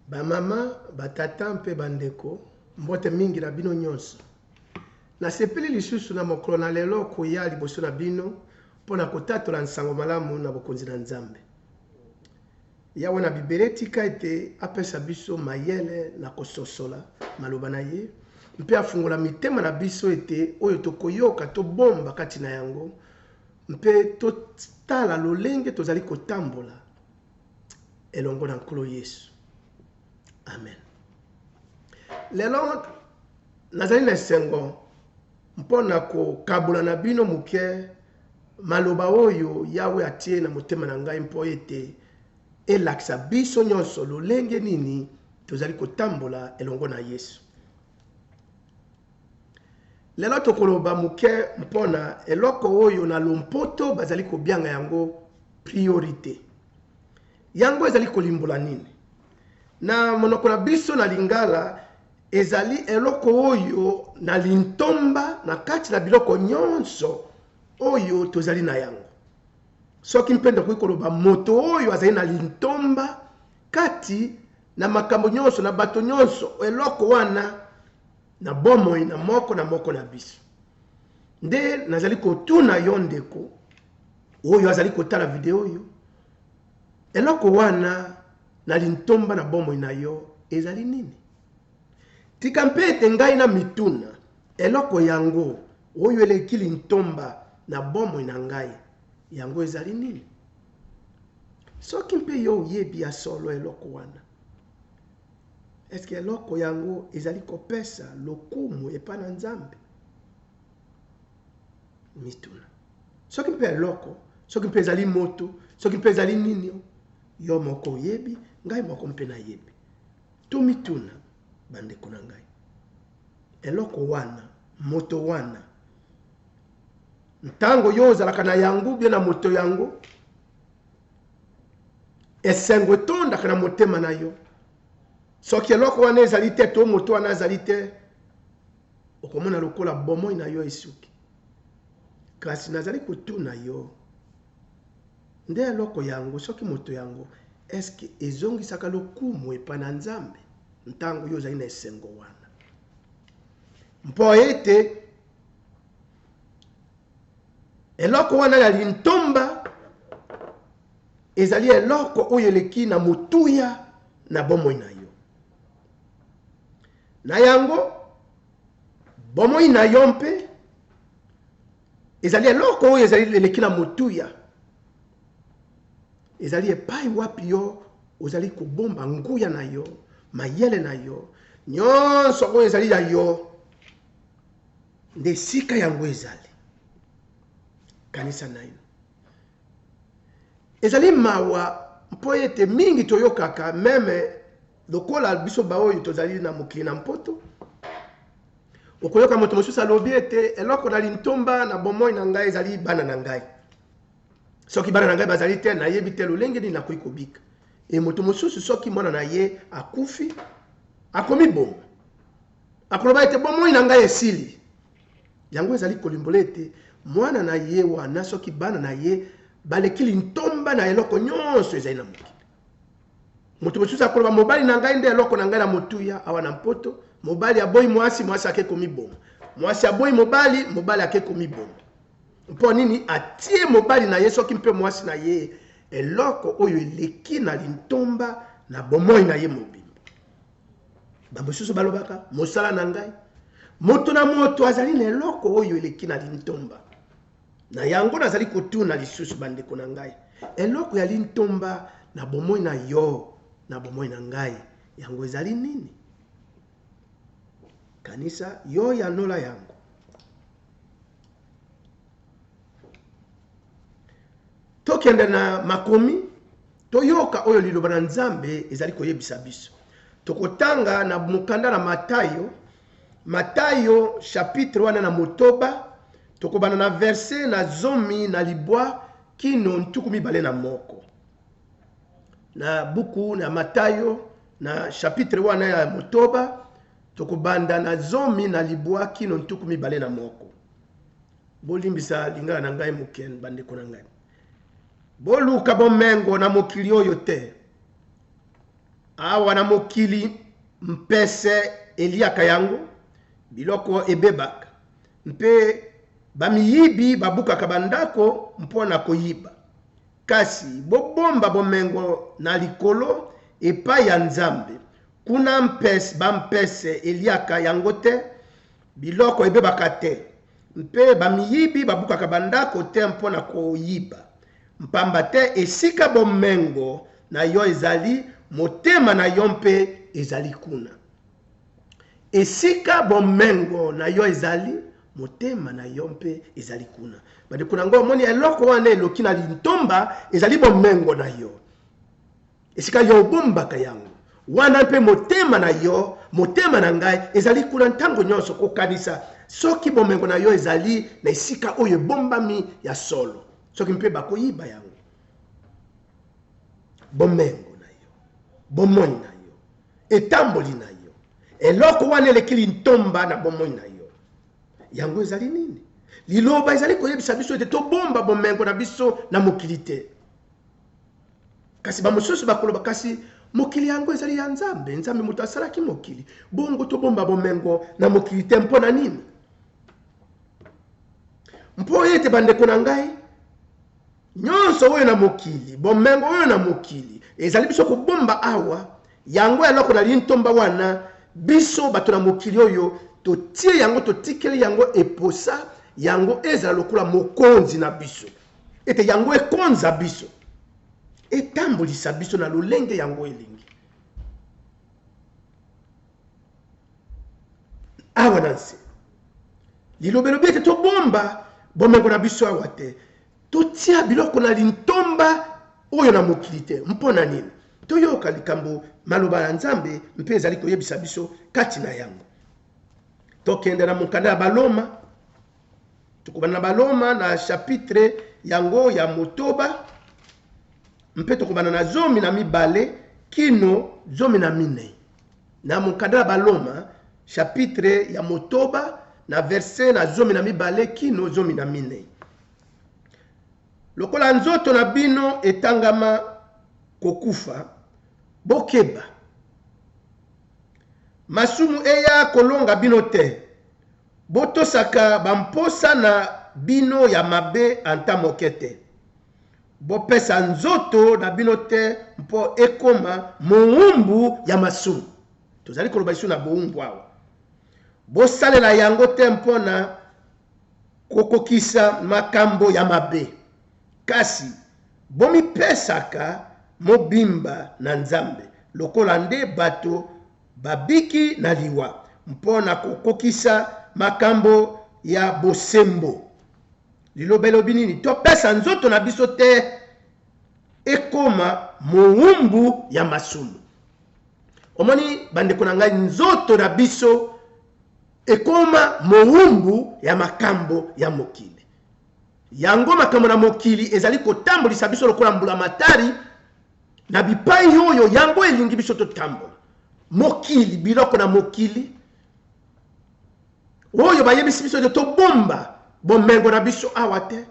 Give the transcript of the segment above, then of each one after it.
Bamama, batata mpe bandeko, mbote mingi na bino nyonso. Nasepeli lisusu na mokolo na lelo koya liboso na bino mpo na kotatola nsango malamu na Bokonzi na Nzambe. Yawe na Bibele tika ete apesa biso mayele na kososola maloba na ye mpe afungola mitema na biso ete oyo tokoyoka tobomba kati na yango mpe totala lolenge tozali kotambola elongo na nkolo yesu amen lelo nazali na esengo mpo na kokabola na bino moke maloba oyo yawe atie na motema na ngai mpo ete elakisa biso nyonso lolenge nini tozali kotambola elongo na yesu Lelo tokoloba moke mpo na eloko oyo na lompoto bazali kobianga yango priorite. Yango ezali kolimbola nini? Na monoko na biso na Lingala, ezali eloko oyo na lintomba na kati na biloko nyonso oyo tozali na yango. Soki mpe tokoki koloba moto oyo azali na lintomba kati na makambo nyonso, na bato nyonso, eloko wana na bomoi na moko na moko na biso. Nde nazali kotuna yo ndeko oyo azali kotala video oyo, eloko wana na lintomba na bomoi na yo ezali nini? Tika mpe ete ngai na mituna eloko yango oyo eleki lintomba na bomoi na ngai, yango ezali nini? Soki mpe yo oyebi ya solo eloko wana, eske eloko yango ezali kopesa lokumu epai na Nzambe? Mituna. Soki mpe eloko, soki mpe ezali moto, soki mpe ezali nini, yo moko oyebi, ngai moko mpe nayebi. Tomituna, bandeko na ngai, eloko wana, moto wana, ntango yo ozalaka na yango bie na moto yango esengo etondaka na motema na yo soki eloko wana ezali te to moto wana azali te okomona lokola bomoi na yo esuki kasi nazali kotuna yo nde eloko yango soki moto yango eske ezongisaka lokumu epai na nzambe ntango yo ozali na esengo wana mpo ete eloko wana ya lintomba ezali eloko oyo eleki na motuya na bomoi na yo na yango bomoi na yo mpe ezali eloko oyo ezali eleki na motuya ezali epai wapi yo ozali kobomba nguya na yo mayele na yo nyonso oyo ezali ya yo Nde esika yango ezali. Kanisa naino. Ezali mawa mpo ete mingi toyokaka meme lokola biso baoyo tozali na mokili na mpoto okoyoka moto mosusu alobi ete eloko na lintomba na bomoi na ngai ezali bana na ngai soki bana na ngai bazali te nayebi te lolenge nini nakoki kobika e moto mosusu soki mwana na ye akufi akomiboma Akoloba ete bomoi na ngai esili. Yango ezali kolimbola ete mwana na ye wana soki bana na ye baleki lintomba na eloko nyonso ezali na mokili. Moto mosusu akoloba mobali na ngai nde eloko na ngai na motuya awa na mpoto. Mobali aboyi mwasi, mwasi ake komiboma. Mwasi aboyi mobali, mobali ake komiboma. Mpo nini atie mobali na ye soki mpe mwasi na ye eloko oyo eleki na lintomba na bomoi na ye mobimba? bamosusu balobaka mosala na ngai moto na moto azali na eloko oyo eleki na lintomba na yango nazali kotuna lisusu bandeko na ngai eloko ya lintomba na bomoi na yo na bomoi na ngai yango ezali nini kanisa yo yanola yango tokende na makomi Toyoka oyo Liloba na Nzambe ezali koyebisa biso. Tokotanga na mokanda na Matayo, Matayo chapitre wana na motoba, tokobana na verse na zomi na libwa kino ntuku mibale na moko na buku na Matayo na chapitre wana ya motoba tokobanda na zomi na libwa kino ntuku mibale na moko. Bolimbisa lingala na ngai moke, bandeko na ngai. Boluka bomengo na mokili oyo te. Awa na mokili, mpese eliaka yango, biloko ebebaka, mpe bamiyibi babukaka bandako mpo na koyiba. Kasi bobomba bomengo na likolo epai ya Nzambe. Kuna bampese eliaka yango te. Biloko ebebaka te, mpe bamiyibi babukaka bandako te mpo na koyiba. Mpamba te esika bomengo na yo ezali, motema na yo mpe ezali kuna. Esika bomengo na yo ezali, motema na yo mpe ezali kuna. Bandeko na ngai, omoni eloko wana eloki na lintomba? Ezali bomengo na yo. Esika yo obombaka yango, wana mpe motema na yo, motema na ngai, ezali kuna ntango nyonso kokanisa soki bomengo na yo ezali na esika oyo ebombami ya solo, soki mpe bakoyiba yango. Bomengo na yo, bomoi na yo, etamboli na yo, eloko wana eleki lintomba na bomoi na yo, yango ezali nini? Liloba ezali koyebisa biso ete tobomba bomengo na biso na mokili te. Kasi bamosusu bakoloba, kasi mokili yango ezali ya Nzambe, Nzambe moto asalaki mokili, bongo tobomba bomengo na mokili te mpo na nini? Mpo ete bandeko na ngai, nyonso oyo na mokili, bomengo oyo na mokili, ezali biso kobomba awa, yango eloko na lintomba wana, biso bato na mokili oyo totie yango, totikeli yango eposa, yango ezala lokola mokonzi na biso. Ete yango ekonza biso, etambolisa biso na lolenge yango elingi. Awa na nse, lilobelobi ete tobomba bomengo na biso awa te, totia biloko na lintomba oyo na mokili te. Mpo na nini? Toyoka likambo maloba ya Nzambe mpe ezali koyebisa biso kati na yango. Tokende na mokanda ya Baloma Tokobanda na Baloma na chapitre yango ya motoba mpe tokobanda na zomi na mibale kino zomi na minei na mokanda ya Baloma chapitre ya motoba na verse na zomi na mibale kino zomi na minei. Lokola nzoto na bino etangama kokufa, bokeba masumu eya kolonga bino te Botosaka bamposa na bino ya mabe ata moke te. Bopesa nzoto na bino te mpo ekoma moumbu ya masumu. Tozali koloba lisusu na boumbu awa. Bosalela yango te mpo na kokokisa makambo ya mabe, kasi bomipesaka mobimba na Nzambe lokola nde bato babiki na liwa mpo na kokokisa makambo ya bosembo. Liloba elobi nini? Topesa nzoto na biso te ekoma mowumbu ya masumu. Omoni bandeko na ngai, nzoto na biso ekoma mowumbu ya makambo ya mokili yango makambo na mokili ezali kotambolisa biso lokola mbulamatari na bipai oyo yango elingi biso totambola mokili biloko na mokili oyo bayebisi biso ete tobomba bomengo na biso awa te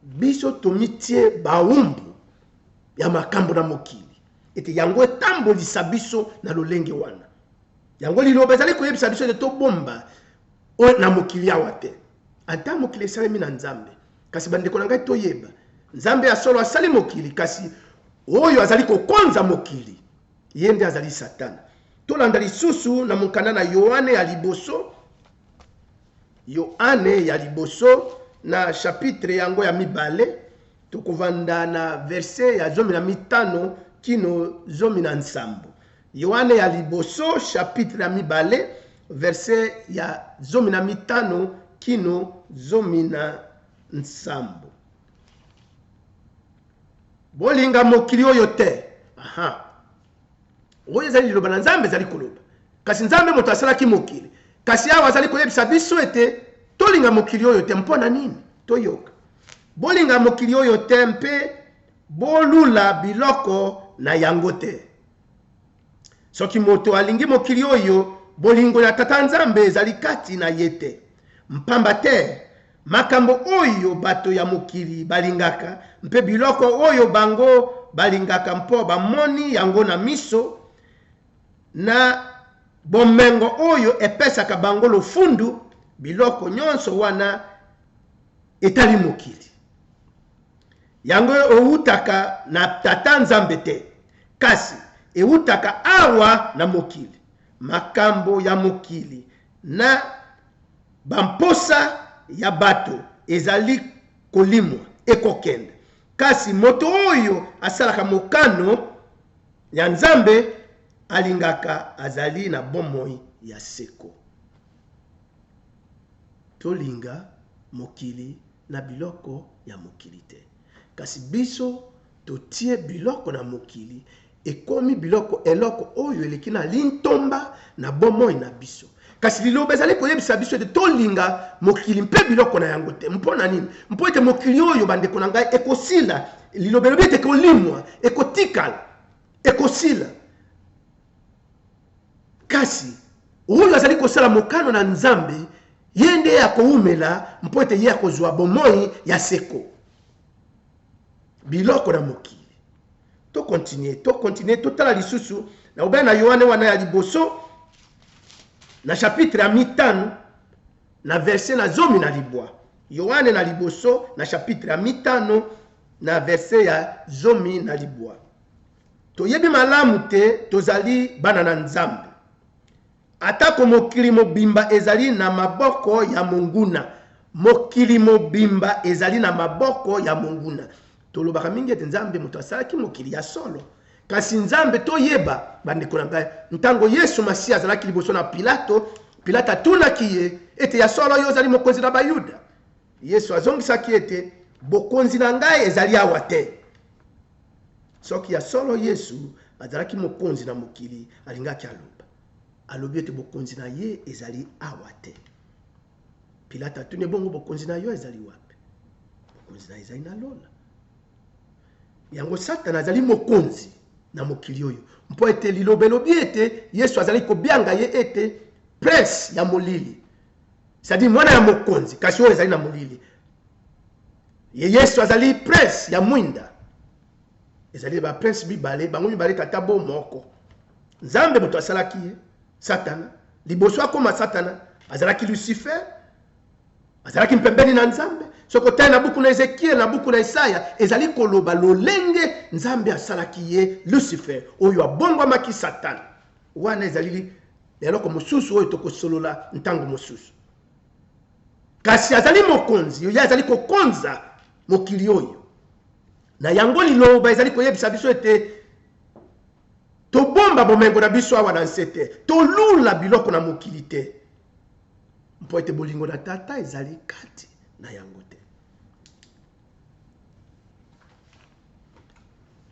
biso tomitie baumbu ya makambo na mokili ete yango etambolisa biso na lolenge wana yango liloba ezali koyebisa biso ete tobomba na mokili awa te ata mokili esalemi na nzambe Kasi bandeko na ngai toyeba, Nzambe ya solo asali mokili, kasi oyo azali kokonza mokili, ye nde azali Satana. Tolanda lisusu na monkanda na Yoane ya liboso, Yoane ya liboso na chapitre yango ya mibale, tokovanda na verse ya zomi na mitano kino zomi na nsambo. Yoane ya liboso chapitre ya mibale verse ya zomi na mitano kino zomi na nsambo. Bolinga mokili oyo te. Aha. Oyo ezali liloba na Nzambe ezali koloba. Kasi Nzambe moto asalaki mokili. Kasi awa azali koyebisa biso ete tolinga mokili oyo te mpo na nini? Toyoka. Bolinga mokili oyo te mpe bolula biloko na yango te. Soki moto alingi mokili oyo, bolingo ya Tata Nzambe ezali kati na ye te. Mpamba te, makambo oyo bato ya mokili balingaka mpe biloko oyo bango balingaka mpo bamoni yango na miso, na bomengo oyo epesaka bango lofundu, biloko nyonso wana etali mokili. Yango ewutaka na Tata Nzambe te, kasi ewutaka awa na mokili. Makambo ya mokili na bamposa ya bato ezali kolimwa, ekokende. Kasi moto oyo asalaka mokano ya Nzambe alingaka azali na bomoi ya seko. Tolinga mokili. na biloko ya mokili te. Kasi biso totie biloko na mokili ekomi biloko eloko oyo eleki na lintomba na bomoi na biso. Kasi liloba ezali koyebisa biso ete tolinga mokili mpe biloko na yango te. Mpo na nini? Mpo ete mokili oyo, bandeko na ngai, ekosila. Liloba elobi ete ekolimwa, ekotikala, ekosila. Kasi oyo azali kosala mokano na Nzambe, ye nde akoumela mpo ete ye akozwa bomoi ya seko. Biloko na mokili. To continue, to continue, totala lisusu na obaya na Yohane wana ya liboso na chapitre ya mitano na verse na zomi na libwa. Yohane na liboso na chapitre ya mitano na verse ya zomi na libwa. Toyebi malamu te tozali bana na Nzambe. Atako mokili mobimba ezali na maboko ya monguna, mokili mobimba ezali na maboko ya monguna. Tolobaka mingi ete Nzambe moto asalaki mokili ya solo. Kasi Nzambe toyeba, bandeko na ngai, ntango Yesu Masiya azalaki liboso na Pilato, Pilato atunaki ye ete ya solo yo ozali mokonzi na Bayuda? Yesu azongisaki ete, Bokonzi na ngai ezali awa te. Soki ya solo Yesu azalaki mokonzi na mokili, alingaki aloba. Alobi ete bokonzi na ye ezali awa te. Pilate atuni ebongo, bokonzi na yo ezali wapi? Bokonzi na ezali na lola. Yango Satana azali mokonzi na mokili oyo, mpo ete liloba elobi ete Yesu azali kobianga ye ete prince ya molili. cetadire mwana ya mokonzi kasi oyo ezali na molili ye yesu azali prince ya mwinda ezali ba prince mibale bango mibale tata bo moko nzambe moto asalaki ye satana liboso akoma satana azalaki lucifer azalaki mpembeni na nzambe soki otali na buku na ezekiele na buku na esaya ezali koloba lolenge nzambe asalaki ye lucifer oyo abongwamaki satana wana ezali na eloko mosusu oyo tokosolola ntango mosusu kasi azali mokonzi ye azali kokonza mokili oyo na yango liloba ezali koyebisa biso ete tobomba bomengo na biso awa na nse te tolula biloko na mokili te mpo ete bolingo na tata ezali kati na yango te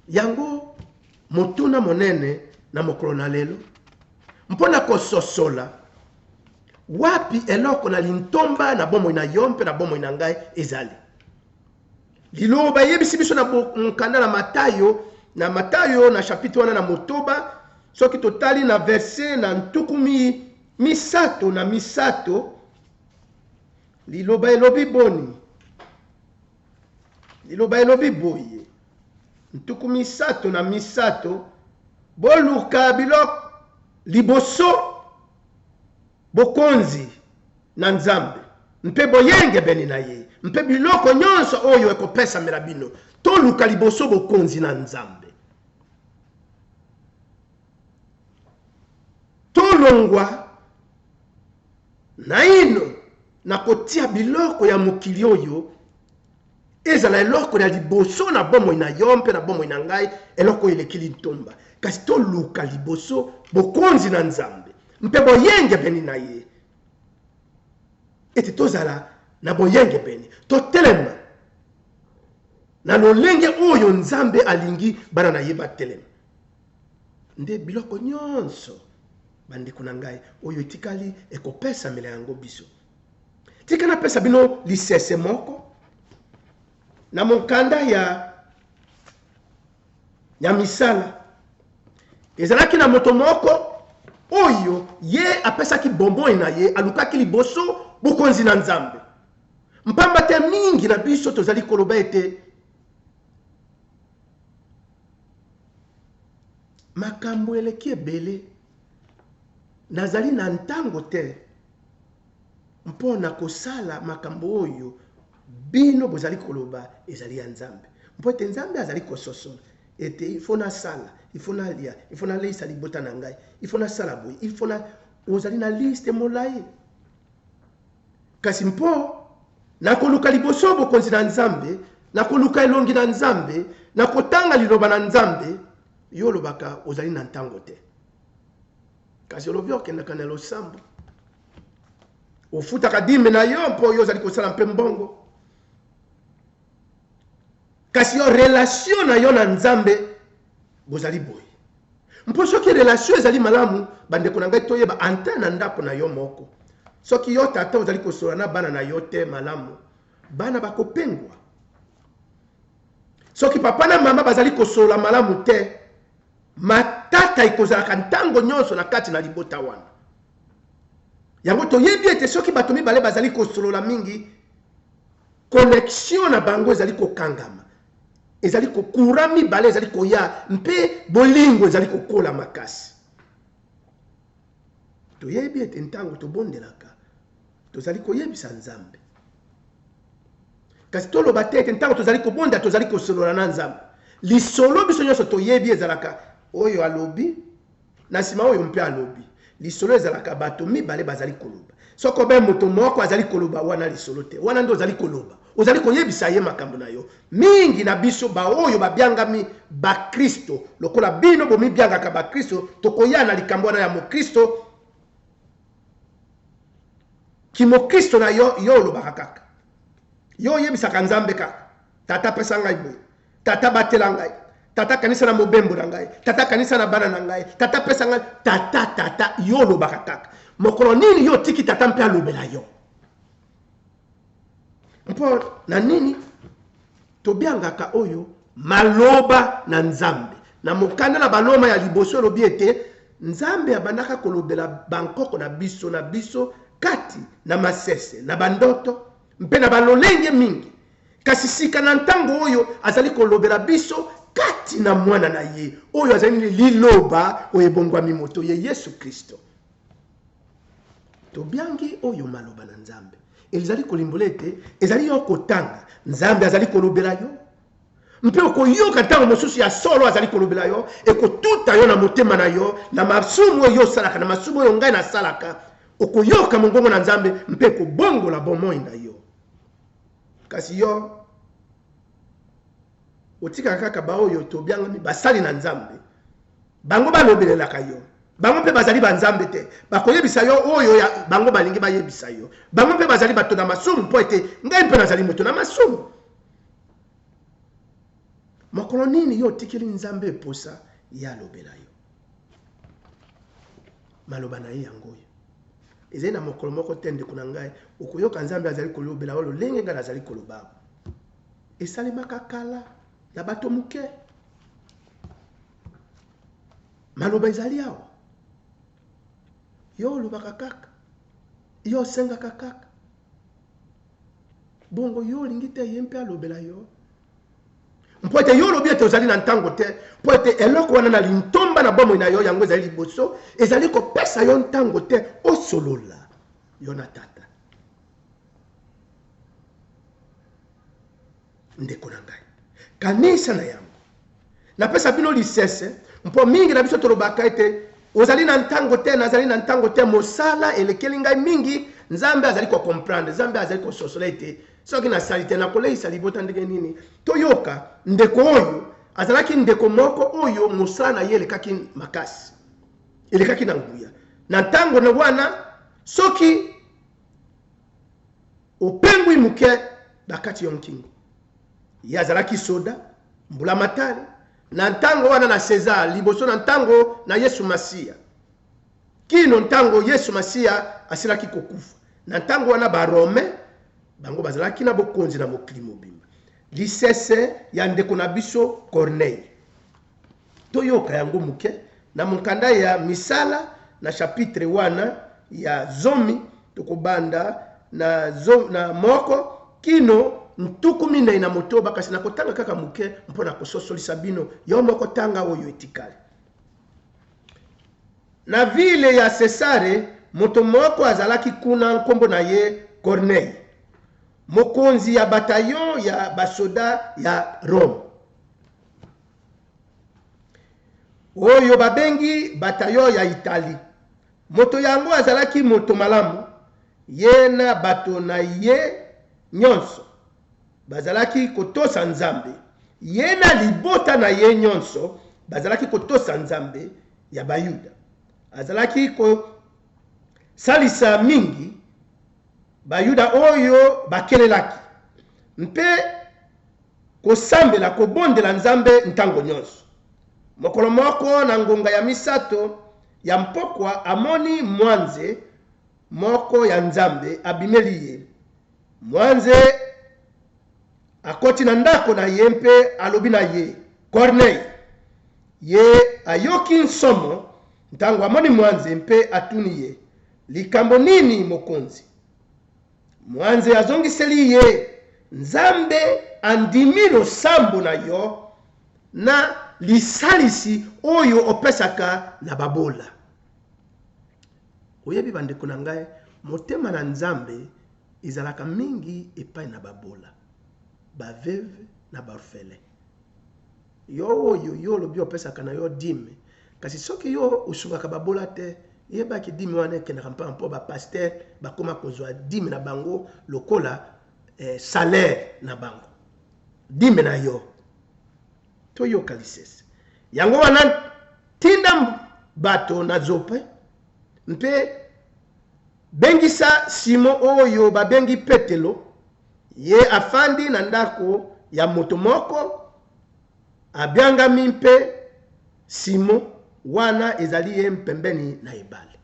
yango motuna monene na mokolo na lelo mpo na kososola wapi eloko na lintomba na bomoi na yo mpe na bomoi na ngai ezali liloba eyebisi biso na mokanda na matayo na matayo na chapitre wana na motoba soki totali na verse na ntuku misato na misato Liloba elobi boni? Liloba elobi boye, ntuku misato na misato, boluka biloko liboso, Bokonzi na Nzambe mpe boyengebene na Ye, mpe biloko nyonso oyo ekopesamela bino. Toluka liboso Bokonzi na Nzambe. Tolongwa Naino nakotia biloko ya mokili oyo ezala eloko ya liboso na bomoi na yo mpe na bomoi na ngai, eloko oyo eleki lintomba. Kasi toluka liboso bokonzi na Nzambe mpe boyengebeni na ye, ete tozala na boyengebeni, totelema na lolenge oyo Nzambe alingi bana na ye batelema. Nde biloko nyonso Bandeko na ngai, oyo etikali ekopesamela yango biso. Tika napesa bino lisese moko na monkanda ya ya misala ezalaki na moto moko oyo ye apesaki bomoi na ye alukaki liboso bokonzi na nzambe mpamba te mingi na biso tozali koloba ete Makambo eleki ebele. Nazali na ntango te mpo na kosala makambo oyo bino bozali koloba ezali ya Nzambe. Mpo ete Nzambe azali kososola ete ifo nasala, ifo nalia, ifo naleisa libota na ngai, ifo nasala boye, ifo na... Ozali na liste molai. Kasi mpo na koluka liboso bokonzi na Nzambe, na koluka elongi na Nzambe, na kotanga liloba na Nzambe, yo olobaka ozali na ntango te. Kasi olobi okendaka na losambo, ofutaka dime na yo mpo yo ozali kosala mpe mbongo. Kasi yo relation na yo na Nzambe bozali boye. Mpo soki relation ezali malamu, bandeko na ngai toyeba anta na ndako na yo moko. Soki yo tata ozali kosola na bana na yo te malamu, bana bakopengwa. Soki papa na mama bazali kosola malamu te, matata ekozalaka ntango nyonso na kati na libota wana. Yango toyebi ete soki bato mibale bazali kosolola mingi, Connexion na bango ezali kokangama, ezali ko courant mibale ezali koya mpe bolingo ezali kokola makasi. Toyebi ete ntango tobondelaka tozali koyebisa Nzambe, kasi toloba te ete ntango tozali kobonda tozali kosolola na Nzambe. Lisolo biso nyonso toyebi ezalaka oyo alobi Na sima oyo mpe alobi, lisolo ezalaka bato mibale bazali koloba. Soko be moto moko azali koloba, wana lisolo te. Wana nde ozali koloba. Ozali koyebisa ye makambo na yo. Mingi na biso, baoyo babiangami Bakristo, lokola bino bomibiangaka Bakristo, tokoya na likambo wana ya Mokristo, kimokristo na yo. Yo olobaka kaka. Yo oyebisaka Nzambe kaka, Tata, pesa ngai boye. tata batela ngai tata kanisa na mobembo na ngai tata kanisa na bana na ngai tata pesa ngai tata tata yo olobaka kaka mokolo nini yo otiki tata mpe alobela yo mpo na nini tobiangaka oyo maloba na nzambe na mokanda na baloma ya liboso elobi ete nzambe abandaka kolobela bankoko na biso na biso kati na masese na bandoto mpe na balolenge mingi, kasi sika na ntango oyo azali kolobela biso kati na Mwana na ye, oyo azali nini? Liloba oyo ebongwami moto, ye Yesu Klisto. Tobiangi oyo maloba na Nzambe. Elizali kolimbola ete ezali yo kotanga, Nzambe azali kolobela yo. mpe okoyoka ntango mosusu ya solo azali kolobela yo, ekotuta yo na motema na yo, na masumu oyo osalaka, na masumu oyo ngai nasalaka. Okoyoka mongongo na Nzambe mpe ekobongola bomoi na yo. Kasi yo otikaka kaka baoyo tobiangami basali na Nzambe, bango balobelelaka yo bango mpe bazali banzambe te bakoyebisa yo oyo ya bango balingi bayebisa yo bango mpe bazali bato na masumu mpo ete ngai mpe nazali moto na masumu Mokolo nini yo otikeli Nzambe posa ye alobela yo? Maloba na ye yango oyo. Ezali na mokolo moko te, ndeko na ngai, okoyoka Nzambe azali kolobela yo lolenge ngai nazali koloba awa. Esalemaka kala na bato moke. Maloba ezali awa. Yo olobaka kaka. Yo osengaka kaka. Bongo yo olingi te ye mpe alobela yo? Mpo ete yo olobi ete ozali na ntango te, mpo ete eloko wana na lintomba na bomoi na yo, yango ezali liboso, ezali kopesa yo ntango te osolola yo na Tata. Ndeko na ngai, kanisa na yango. Napesa bino lisese, mpo mingi na biso tolobaka ete ozali na ntango te, nazali na ntango te, mosala elekeli ngai mingi. Nzambe azali kocomprendre, Nzambe azali kososola ete soki nasali te, nakoleisa libota ndenge nini? Toyoka ndeko oyo azalaki ndeko moko oyo mosala na ye elekaki makasi, elekaki na nguya na ntango na wana soki Opengwi moke bakati yo nkingo. Ye azalaki soda, mbulamatari, na ntango wana na Cesar, liboso na ntango na Yesu Masiya. Kino ntango Yesu Masiya asilaki kokufa. Na ntango wana, Barome, bango bazalaki na bokonzi na mokili mobimba. Lisese ya ndeko na biso Korneyi. Toyoka yango moke. Na monkanda ya Misala, na chapitre wana ya zomi, tokobanda na zo, na moko kino ntuku minei na motoba, kasi nakotanga kaka moke mpo na kososolisa bino. Yo moko tanga oyo etikali. Na vile ya Sesare, moto moko azalaki kuna, nkombo na ye Kornei, mokonzi ya batayon ya basoda ya Rome. oyo babengi bataillon ya Italie. Moto yango azalaki moto malamu, ye na bato na ye nyonso bazalaki kotosa Nzambe. Ye na libota na ye nyonso bazalaki kotosa Nzambe ya Bayuda. Azalaki kosalisa mingi Bayuda oyo bakelelaki mpe Kosambela, kobondela Nzambe ntango nyonso. Mokolo moko na ngonga ya misato ya mpokwa, amoni mwanze moko ya Nzambe abimeli ye. Mwanze akoti na ndako na ye mpe alobi na ye, Kornei! Ye ayoki nsomo ntango amoni mwanze mpe atuni ye, Likambo nini, Mokonzi? Mwanze azongiseli ye, Nzambe andimi losambo na yo na lisalisi oyo opesaka na babola. Oyebi bandeko na ngai, motema na Nzambe ezalaka mingi epai na babola, ba veuves na ba orphelins. Yo oyo yo olobi opesaka na yo dime kasi soki yo osungaka babola te yeba ke dime wana ekendaka mpamba mpo ba pasteur bakoma kozua dime na bango lokola eh, salaire na bango dime na yo toyoka lisese yango wana tinda bato na zope mpe bengisa simo oyo babengi petelo Ye afandi na ndako ya moto moko abiangami mpe Simon, wana ezali ye mpembeni na ebale.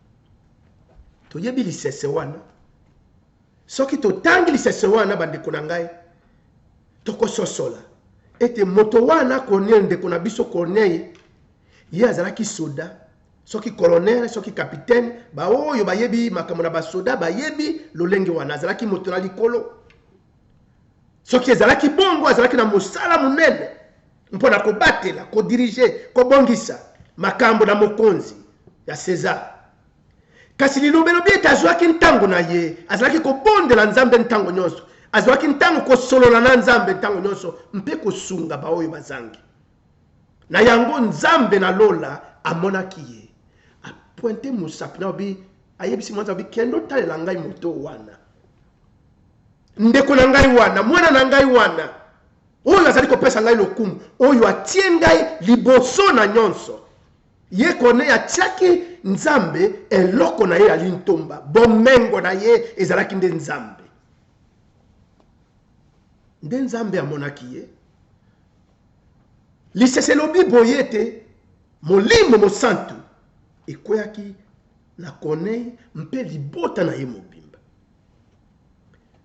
Toyebi lisese wana. Soki totangi lisese wana, bandeko na ngai, tokososola ete moto wana Corneille, ndeko na biso Corneille, ye azalaki soda Soki colonel, soki capitaine, baoyo bayebi makambo na basoda bayebi lolenge wana. Azalaki moto na likolo. Soki ezalaki bongo, azalaki na mosala monene mpo na kobatela, kodirige, kobongisa makambo na mokonzi ya Cesar. Kasi liloba elobi ete azwaki ntango na ye, azalaki kobondela Nzambe ntango nyonso, azwaki ntango kosolola na Nzambe ntango nyonso mpe kosunga baoyo bazangi. Na yango Nzambe na lola amonaki ye, apointe mosapi na obi, ayebisi mwanza obi, kende otalela ngai moto wana, ndeko na ngai wana, mwana na ngai wana, oyo azali kopesa ngai lokumu, oyo atie ngai liboso na nyonso. Ye Korneye atiaki Nzambe eloko na ye ya lintomba, bomengo na ye ezalaki nde Nzambe. Nde Nzambe amonaki ye Lisese elobi boye ete, Molimo Mosantu ekweaki na Corneille mpe libota na ye mobimba.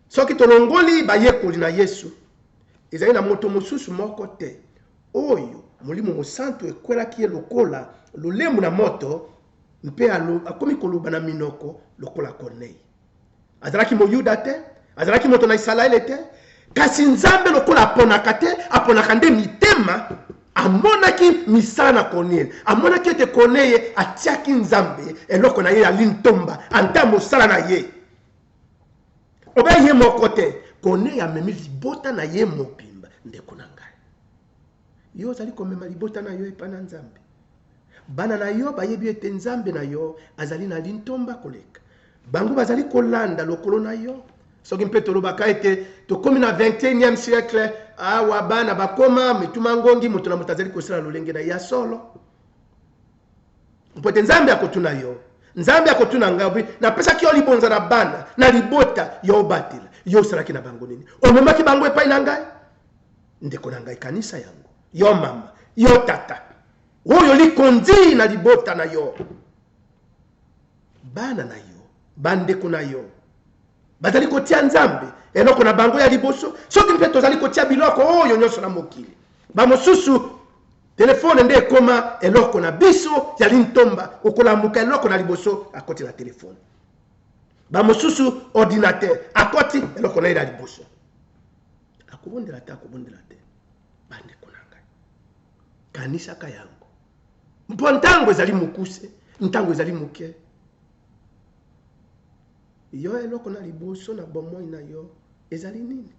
Soki tolongoli bayekoli na Yesu, ezali na moto mosusu moko te oyo Molimo Mosantu ekwelaki ye lokola lolemu na moto mpe akomi koloba na minoko lokola Corneille. azalaki moyuda te azalaki moto na isalaele te kasi nzambe lokola aponaka te aponaka nde mitema amonaki misala na korneye amonaki ete korneye atiaki nzambe eloko na ye ya lintomba anta mosala na ye obe ye moko te korneye amemi libota na ye mobimba ndeko na ngai Yo ozali komema libota na yo epai na Nzambe. Bana na yo bayebi ete Nzambe na yo azali na lintomba koleka. Bango bazali kolanda lokolo na yo. Soki mpe tolobaka ete tokomi na 21e siècle, awa bana bakoma mituma ngongi, moto na moto azali kosala lolenge na ya solo. Mpo ete Nzambe akotuna yo, Nzambe akotuna ngai, napesaki yo libonza na bana, na libota, yo obatela. Yo osalaki na bango nini? Omemaki bango epai na ngai? ndeko na ngai kanisa yango yo mama yo tata oyo likonzi na libota na yo bana na yo bandeko na yo bazali kotia nzambe eloko na bango ya liboso soki mpe tozali kotia biloko oyo nyonso na mokili bamosusu telefone nde ekoma eloko na biso ya lintomba okolamuka eloko na liboso akoti na telefone bamosusu ordinatere akoti eloko na ye na liboso Akobondela ata akobondela te, bandeko na ngai. Kanisaka yango. Mpo ntango ezali mokuse, ntango ezali moke. Yo eloko na liboso na bomoi na yo ezali nini?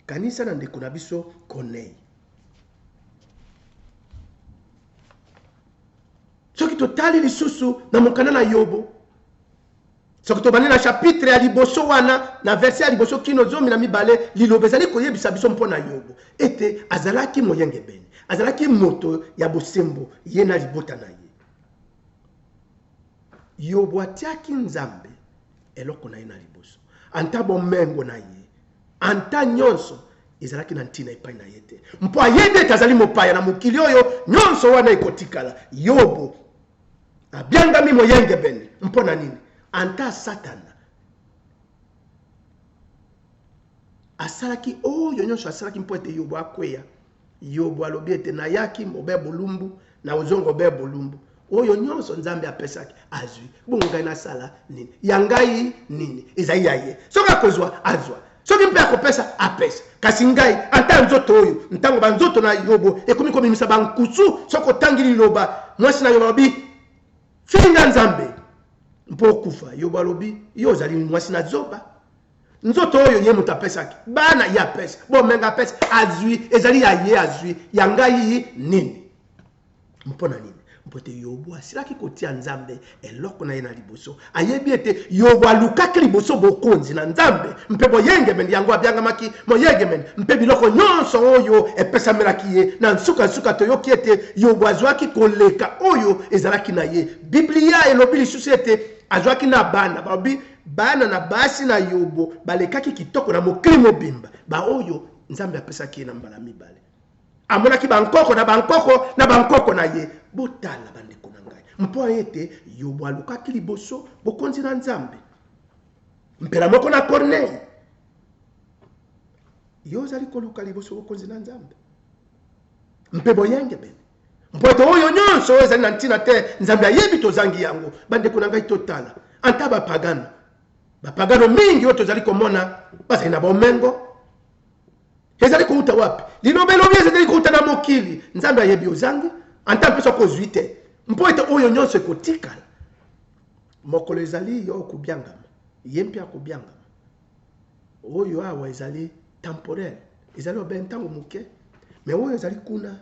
Kanisa na ndeko na biso Konei. soki totali lisusu na mokanda na yobo soki tobandi na chapitre ya liboso wana na verse ya liboso kino zomi na mibale liloba ezali koyebisa biso mpo na yobo ete azalaki moyengebene azalaki moto ya bosembo ye na libota na ye yobo atiaki nzambe eloko na ye na liboso anta bomengo na ye anta nyonso ezalaki na ntina epai na ye te mpo ayebi ete azali mopaya na mokili oyo nyonso wana ekotikala yobo abiangami moyengebene mpo na nini anta satana asalaki oyo nyonso asalaki mpo ete yobo akweya yobo alobi ete nayaki mobe bolumbu na ozongo be bolumbu oyo nyonso nzambe apesaki azwi bongo ngai nasala nini ya ngai nini ezali ya ye soki akozwa azwa Soki mpe akopesa, apesa. Kasi ngai, ata nzoto oyo, ntango banzoto na Yobo ekomi kobimisa bankusu, soki otangi liloba, mwasi na Yobo alobi, finga Nzambe, mpo okufa. Yobo alobi, yo ozali mwasi na zoba. Nzoto oyo ye moto apesaki, bana ye apesa, bomenga apesa, azwi, ezali ya ye azwi, ya ngai nini? mpo na nini mpo ete yobo asilaki kotia nzambe eloko na ye na liboso ayebi ete yobo alukaki liboso bokonzi na nzambe mpe boyengemeli yango abyangamaki moyengemeli mpe biloko nyonso oyo epesamelaki ye na nsuka nsuka toyoki ete yobo azwaki koleka oyo ezalaki na ye biblia elobi lisusu ete azwaki na bana balobi bana na basi na yobo balekaki kitoko na mokili mobimba baoyo nzambe apesaki ye na mbala mibale amonaki bankoko na bankoko na bankoko na ye botala bandeko na ngai mpo ete yobo alukaki liboso bokonzi na nzambe mpela moko na kornei yo ozali koluka liboso bokonzi na nzambe mpe boyengebene mpo ete oyo nyonso oyo ezali na ntina te nzambe ayebi tozangi yango bandeko na ngai totala anta bapagano bapagano mingi oyo tozali komona bazali na bomengo ezali kouta wapi liloba elobi ezali kouta na mokili nzambe ayebi ozangi anta mpe soki ozwi te mpo ete oyo nyonso ekotikala mokolo ezali yo okobiangama ye mpe akobiangama oyo awa ezali temporel ezali obe ntango moke me oyo ezali kuna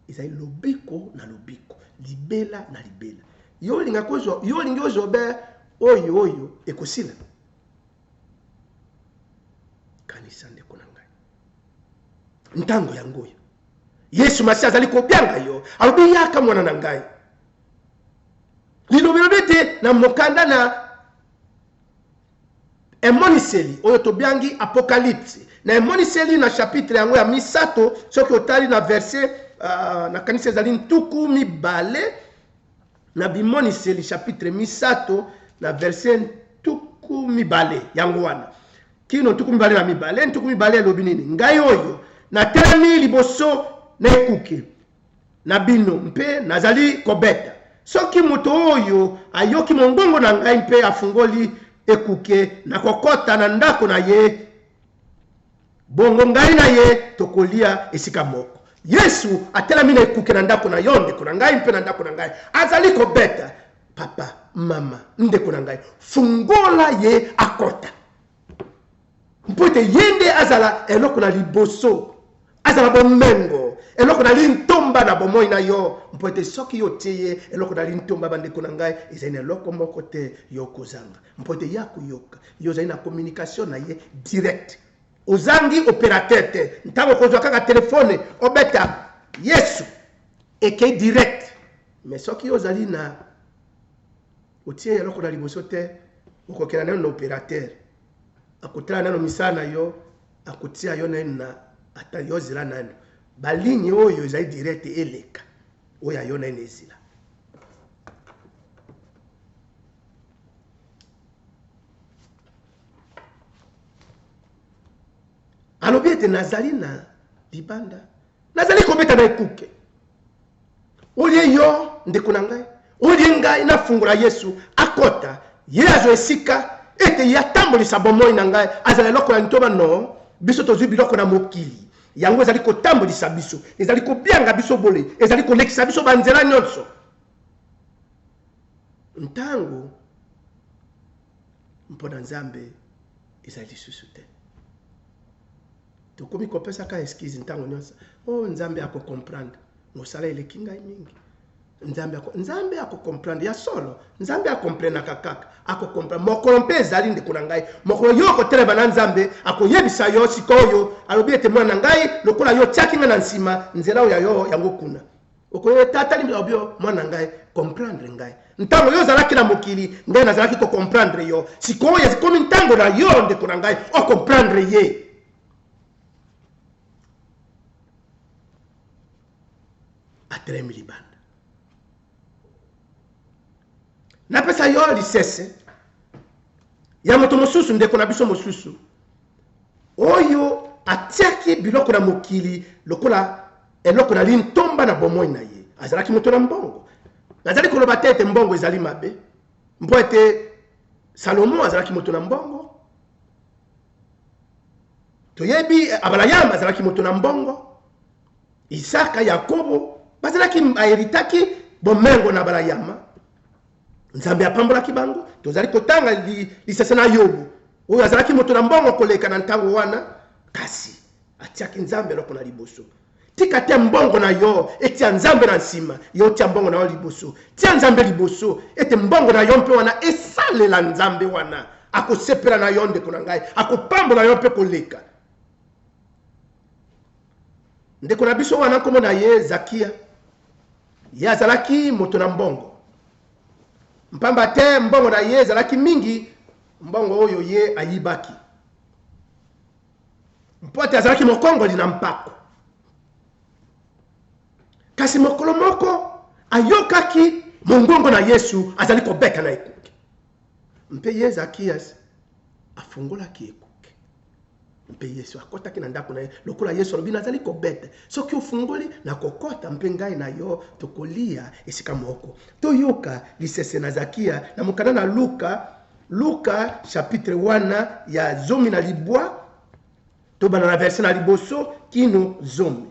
ezali lobiko na lobiko libela na libela yo olingi ozwa obe oyo oyo ekosila kanisa ndeko na ngai ntango yango oyo yesu masi azali kobyanga yo alobi yaka mwana na ngai lilobelobi ete na mokanda na emoniseli oyo tobyangi apokalipse na emoniseli na chapitre yango ya misato soki otali na verse uh, nakanisi ezali ntuku mibale na bimoniseli chapitre misato na verse ntuku mibale yango wana kino ntuku mibale na mibale ntuku mibale elobi nini ngai oyo natelemi liboso na ekuke na bino mpe nazali kobeta soki moto oyo ayoki mongongo na ngai mpe afungoli ekuke na kokota na ndako na ye Bongo ngai na ye tokolia esika moko. Yesu atelami na ekuke na ndako na yo, ndeko na ngai, mpe na ndako na ngai. Azali kobeta. Papa, mama, ndeko na ngai, fungola ye akota. Mpo ete ye nde azala eloko na liboso, azala bomengo eloko na lintomba na bomoi na yo mpo ete soki yo otie ye eloko na lintomba bandeko na ngai ezali na eloko moko te yo kozanga Mpo te ye akoyoka yo ozali na communication na ye directe. Ozangi operateur te, ntango okozwa kaka telephone obeta Yesu ekei directe. Mais soki ozali na otie eloko na liboso te okokela nano na operateur akotala nano misala na yo akotia yo naino na ata yo zela nano baligne oyo ezali direct eleka oyo ayo naino ezila alobi ete nazali na libanda nazali kobeta na ekuke olie yo ndeko na ngai olie ngai nafungola yesu akota ye azwa esika ete ye atambolisa bomoi na ngai azala eloko ya ntoma no biso tozwi biloko na mokili yango ezali kotambolisa biso ezali kobianga biso bole ezali kolekisa biso banzela nyonso Ntango mpo na Nzambe ezali lisusu te. Tokomi kopesaka eskize ntango nyonso. O oh, Nzambe akokomprendre, mosala eleki ngai mingi. Nzambe ako Nzambe akokomprendre ya solo. Nzambe akomprenaka kaka, akokomprendre. Mokolo mpe ezali ndeko na ngai, mokolo yo okotelema na Nzambe, akoyebisa yo sikoyo, alobi ete mwana na ngai, lokola yo otiaki ngai na nsima, nzela oyo ya yo yango kuna. okoye etatali makambo yo mwana ngai comprendre ngai ntango yo ozalaki na mokili ngai nazalaki kocomprendre yo sikoyo ekomi ntango na yo ndeko na ngai ocomprendre ye atelemi libanda napesa yo lisese ya moto mosusu ndeko na biso mosusu Oyo atiaki biloko na mokili lokola eloko na lintomba na bomoi na ye azalaki moto na mbongo. Nazali koloba te ete mbongo ezali mabe, mpo ete Salomo azalaki moto na mbongo, toyebi Abalayama azalaki moto na mbongo, Isaka, Yakobo bazalaki baheritaki bomengo na Abalayama. Nzambe apambolaki bango. Tozali kotanga lisese na Yobo, oyo azalaki moto na mbongo koleka na ntango wana, kasi atiaki Nzambe eloko na liboso. Tika te mbongo na yo etia Nzambe na nsima, yo tia mbongo na yo liboso. Tia Nzambe liboso, ete mbongo na yo mpe wana esalela Nzambe wana. Akosepela na yo, ndeko na ngai, akopambola yo mpe koleka. Ndeko na biso wana nkombo na ye Zakia, ye azalaki moto na mbongo, mpamba te mbongo na ye ezalaki mingi, mbongo oyo ye ayibaki, mpo ete azalaki mokongoli na mpako. Kasi mokolo moko ayokaki mongongo na Yesu azali kobeta na ekuke. Mpe ye, Zakias, afungolaki ekuke, mpe Yesu akotaki na ndako na ye. Lokola Yesu alobi, Nazali kobete, soki ofungoli, nakokota, mpe ngai na yo tokolia esika moko. Toyoka lisese na Zakia na mokanda na Luka, Luka chapitre wana ya zomi na libwa, tobanda na verse na liboso kino zomi.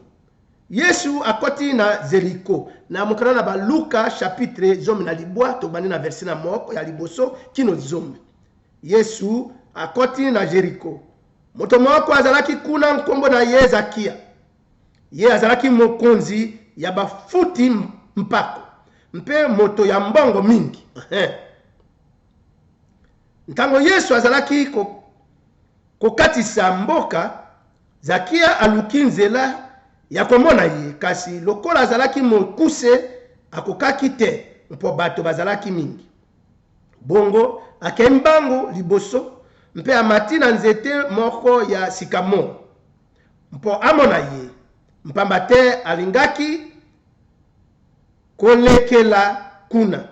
Yesu akoti na Zeriko. Na mokanda na Baluka chapitre zomi na libwa, tobandi na verse na moko ya liboso kino zomi. Yesu akoti na Jeriko. Moto moko azalaki kuna, nkombo na ye Zakia. Ye azalaki mokonzi ya bafuti mpako mpe moto ya mbongo mingi. Ntango Yesu azalaki kokatisa mboka, Zakia aluki nzela ya komona ye, kasi lokola azalaki mokuse, akokaki te mpo bato bazalaki mingi. Bongo akei mbangu liboso mpe amati na nzete moko ya sikamore mpo amona ye, mpamba te alingaki kolekela kuna.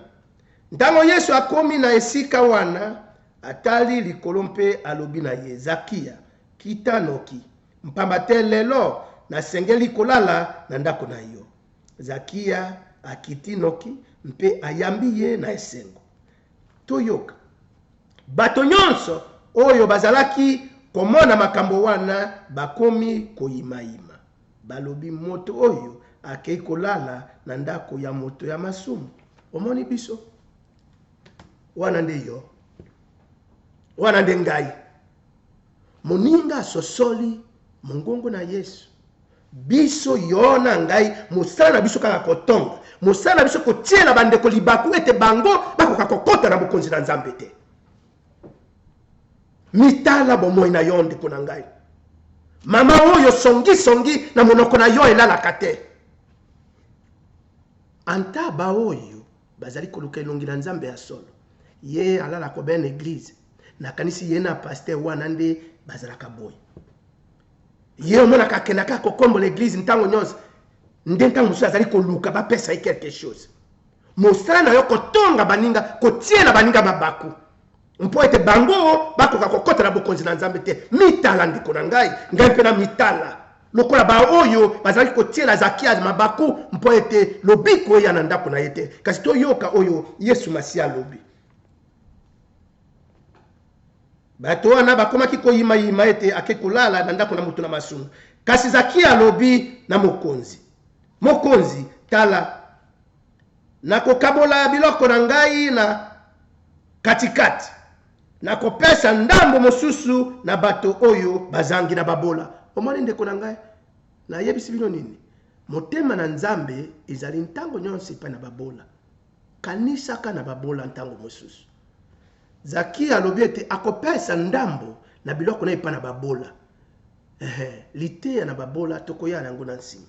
Ntango Yesu akomi na esika wana, atali likolo mpe alobi na ye, Zakia, Kita noki, mpamba te lelo nasengeli kolala na ndako na yo. Zakia akiti noki mpe ayambi ye na esengo. Toyoka. Bato nyonso oyo bazalaki komona makambo wana bakomi koimaima. Balobi, Moto oyo akei kolala na ndako ya moto ya masumu. Omoni biso? Wana nde yo. Wana nde ngai. Moninga asosoli mongongo na Yesu. Biso, yo na ngai, mosala na biso kaka kotonga. Mosala na biso kotiela bandeko libaku ete bango bakoka kokota na bokonzi na Nzambe te. Mitala bomoi na yo, ndeko na ngai. Mama oyo songisongi na monoko na yo elalaka te. Anta baoyo Bazali koluka elongi na nzambe ya solo ye alala ko ben eglise na kanisi ye na pasteur wana nde bazalaka boye ye omonaka akendaka kokombola eglise ntango nyonso nde ntango mosusu azali koluka bapesa ye quelque chose mosala na yo kotonga baninga kotiela baninga mabaku Mpo ete bango bakoka kokota na bokonzi na Nzambe te. Mitala, ndeko na ngai, ngai mpe namitala lokola baoyo bazalaki kotiela Zakia mabaku, mpo ete lobiko eya na ndako na ye te. Kasi toyoka oyo Yesu Masiya alobi. Bato wana bakomaki koyimayima ete ake kolala na ndako na moto na masumu. Kasi Zakia alobi na mokonzi, Mokonzi, tala, Nakokabola biloko na ngai na katikati, nakopesa ndambo mosusu na bato oyo bazangi, na babola. Omoni, ndeko na ngai? Nayebisi bino nini? Motema na Nzambe ezali ntango nyonso epai na babola. Kanisaka na babola ntango mosusu. Zaki alobi ete akopesa ndambo na biloko na ye epai na babola. Ehe, liteya na babola, tokoya na yango na nsima.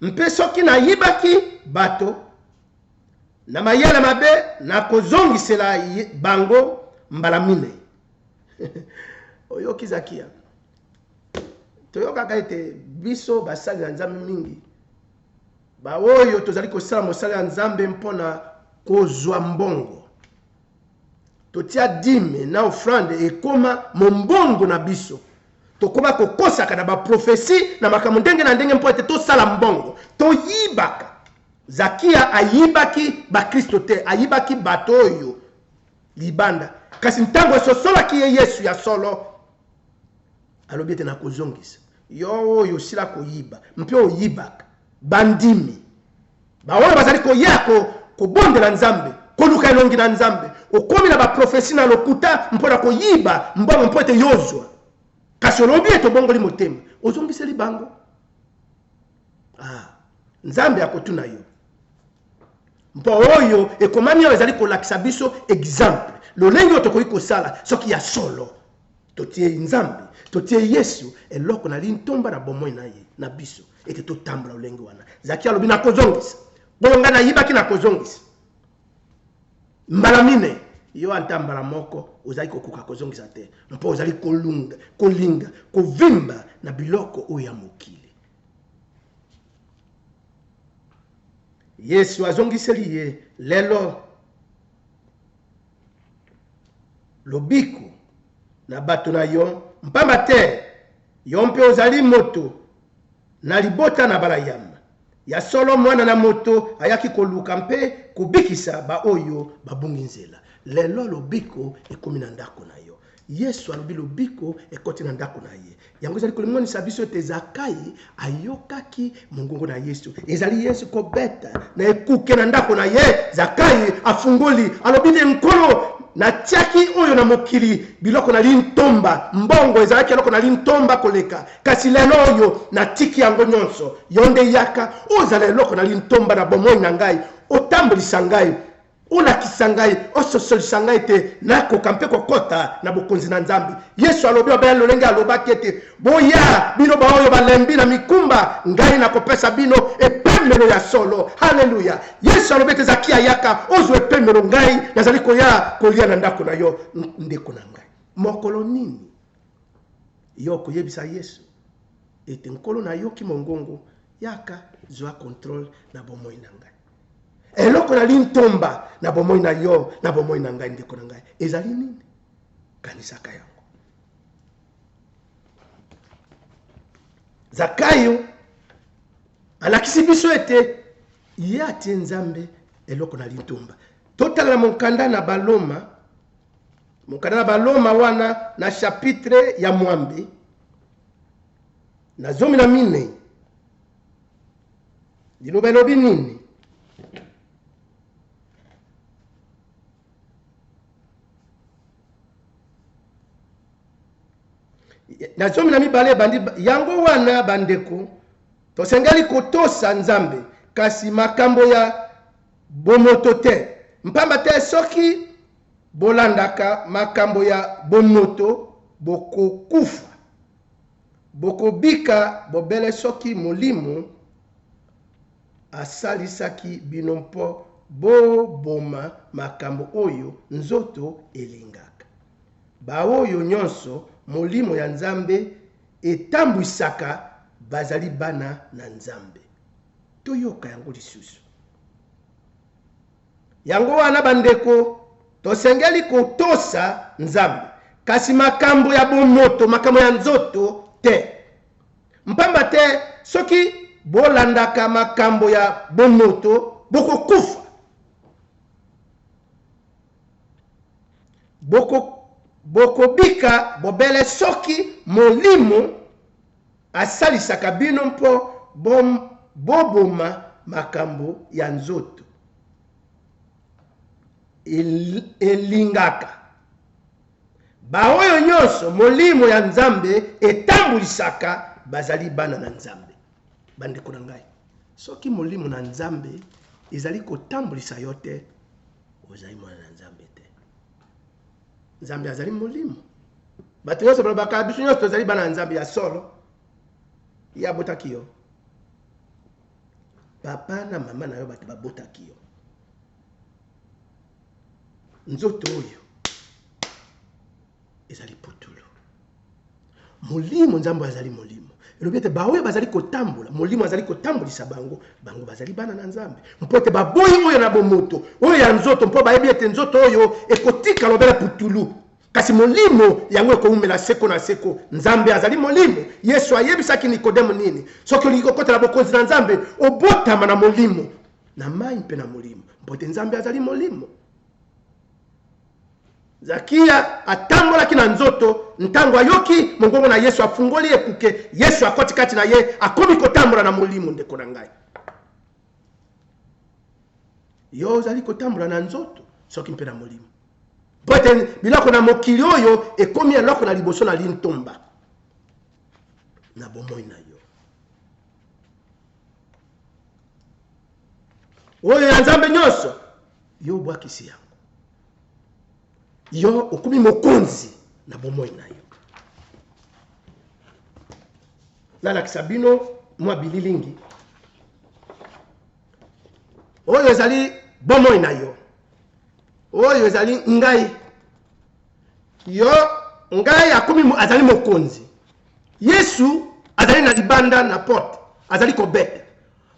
mpe soki nayibaki bato na mayele mabe nakozongisela bango mbala minei oyoki zakia toyokaka ete biso basali na nzambe mingi baoyo tozali kosala mosala ya nzambe mpo na kozwa mbongo totia dime na offrande ekoma mombongo na biso tokoba kokosaka na baprofesi na makambo ndenge na ndenge mpo ete tosala mbongo toyibaka zakia ayibaki bakristo te ayibaki bato oyo libanda kasi ntango esosolaki ye yesu ya solo alobi ete nakozongisa Yo oyo osila koyiba mpe oyibaka, bandimi baoyo bazali koya ko, kobondela Nzambe, koluka elongi na Nzambe, okomi na baprofesi na lokuta mpo na koyiba mbongo mpo ete yo ozwa. Kasi olobi ete obongoli motema, ozongiseli bango. Ah, Nzambe akotuna yo. Mpo oyo ekomami oyo ezali kolakisa biso exemple lolenge oyo tokoki kosala soki ya solo Totie Nzambe, totie Yesu eloko na lintomba na bomoi na ye na biso, ete totambola lolenge wana. Zaki alobi na kozongisa oyo ngai nayibaki, na kozongisa mbala mine. Yo ata mbala moko ozali kokoka kozongisa te, mpo ozali kolunga, kolinga kovimba na biloko oyo ya mokili. Yesu azongiseli ye, lelo lobiko na bato na yo, mpamba te yo mpe ozali moto na libota na Abalayama. Ya solo, mwana na moto ayaki koluka mpe kobikisa baoyo babungi nzela. Lelo lobiko ekomi na ndako na yo. Yesu alobi lobiko ekoti na ndako na ye. Yango ezali kolimonisa biso ete Zakai ayokaki mongongo na Yesu. Ezali Yesu kobeta na ekuke na ndako na ye. Zakai afungoli, alobi ne, Nkolo, natiaki oyo na mokili biloko na lintomba, mbongo ezalaki eloko na lintomba koleka, kasi lelo oyo natiki yango nyonso. Yo nde yaka, ozala eloko na lintomba na bomoi na ngai, otambolisa ngai Olakisa ngai, ososolisa ngai ete nakoka mpe kokota na bokonzi na Nzambe. Yesu alobi obele lolenge alobaki ete, Boya bino baoyo balembi na mikumba, ngai nakopesa bino epemelo ya solo. Haleluya! Yesu alobi ete Zaki ayaka ozwa epemelo, ngai nazali koya kolia na ndako na yo, ndeko na ngai. Mokolo nini yo okoyebisa Yesu ete nkolo nayoki mongongo, yaka zwa controle na bomoi na ngai? eloko na lintomba na bomoi na yo na bomoi na ngai ndeko na ngai ezali nini kanisaka yango zakayo alakisi biso ete ye atie nzambe eloko na litumba totala na monkanda na baloma monkanda na baloma wana na chapitre ya mwambe na zomi na minei Liloba elobi nini? na zomi na mibale ebandi yango wana bandeko tosengeli kotosa nzambe kasi makambo ya bomoto te mpamba te soki bolandaka makambo ya bomoto bokokufa Bokobika bobele soki Molimo asalisaki bino mpo boboma makambo oyo nzoto elingaka. Baoyo nyonso Molimo ya Nzambe etambwisaka bazali bana na Nzambe. Toyoka yango lisusu. Yango wana, bandeko, tosengeli kotosa Nzambe, kasi makambo ya bomoto, makambo ya nzoto te. Mpamba te soki bolandaka makambo ya bomoto, bokokufa. bokobika bobele soki molimo Asalisaka bino mpo boboma makambo ya nzoto. Elingaka baoyo nyonso Molimo ya Nzambe etambulisaka bazali bana na Nzambe. Bandeko na ngai, soki Molimo na Nzambe ezali kotambulisa yo te, ozali mwana na Nzambe. nzambe azali molimo bato nyonso balobaka biso nyonso tozali bana ya nzambe ya solo ye abotaki yo papa na mama na yo bato babotaki yo nzoto oyo ezali putulu Molimo, Nzambe oyo azali Molimo. Elobi ete baoyo bazali kotambola, Molimo azali kotambolisa bango, bango bazali bana na Nzambe. Mpo ete baboyi oyo na bomoto, oyo ya nzoto, mpo bayebi ete nzoto oyo ekotika lobela putulu. Kasi Molimo yango ekoumela seko na seko. Nzambe azali Molimo. Yesu ayebisaki Nikodemo nini? Soki olingi kokotela bokonzi na Nzambe, obotama na Molimo, na mai mpe na Molimo, mpo ete Nzambe azali Molimo. Zakia atambolaki na nzoto ntango ayoki mongongo na Yesu. Afungoli ekuke, Yesu akoti kati na ye, akomi kotambola na molimo. Ndeko na ngai, yo ozali kotambola na nzoto soki mpe na molimo? Mpo ete biloko na mokili oyo ekomi eloko na liboso na lintomba na bomoi na yo. oyo ya nzambe nyonso yo obwakisi yango yo okomi mokonzi na bomoi na yo nalakisa bino mwa bililingi oyo ezali bomoi na yo oyo ezali ngai yo ngai akomi azali mokonzi Yesu azali na libanda na porte, azali kobeta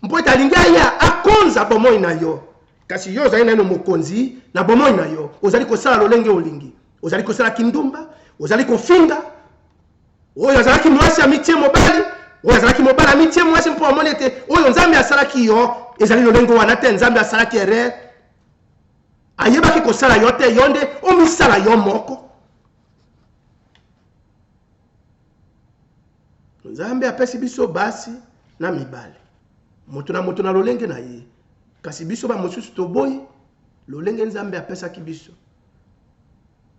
mpo ete alingi aya akonza bomoi na yo. Kasi yo ozali naino mokonzi na bomoi na yo, ozali kosala lolenge olingi, ozali kosala kindumba, ozali kofinga oyo azalaki mwasi amitie mobali, oyo azalaki mobali amitie mwasi, mpo amoni ete oyo Nzambe asalaki yo ezali lolenge wana te. Nzambe asalaki erreur, ayebaki kosala yo te, yo nde omisala yo moko. nzambe apesi biso basi na mibale moto na moto na lolenge na ye kasi biso bamosusu toboyi lolenge nzambe apesaki biso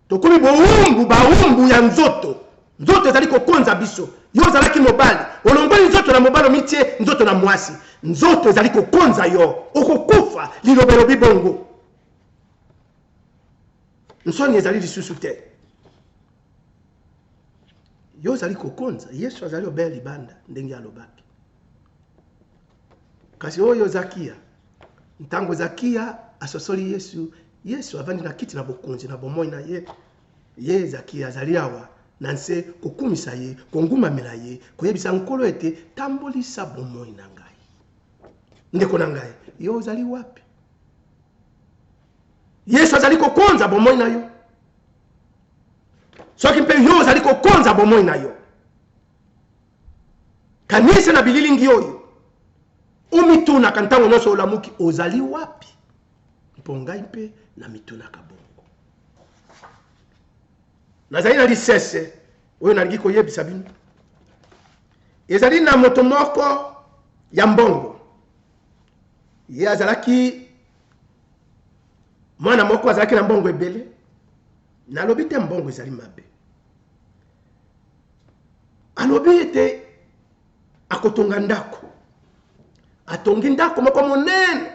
tokomi bowumbu bawumbu ya nzoto nzoto ezali kokonza biso yo ozalaki mobali olongoli nzoto na mobali omitie nzoto na mwasi nzoto ezali kokonza yo okokufa liloba elobi bongo nsoni ezali lisusu te yo ozali kokonza yesu azali obeya libanda ndenge alobaki kasi oyo zakiya ntango zakiya asosoli yesu yesu avandi na kiti na bokonzi na bomoi na ye ye zakiya azali awa na nse kokumisa ye kongumamela ye koyebisa nkolo ete tambolisa bomoi na ngai ndeko na ngai yo ozali wapi Yesu azali kokonza bomoi na yo. Soki mpe yo ozali kokonza bomoi na yo, kanisa na bililingi oyo omitunaka ntango nyonso olamuki, ozali wapi? Mpo ngai mpe namitunaka bongo. Nazali na lisese oyo nalingi koyebisa bino. Ezali na moto moko ya mbongo, ye azalaki mwana moko azalaki na mbongo ebele nalobi te mbongo ezali mabe alobi ete akotonga ndako atongi ndako moko monene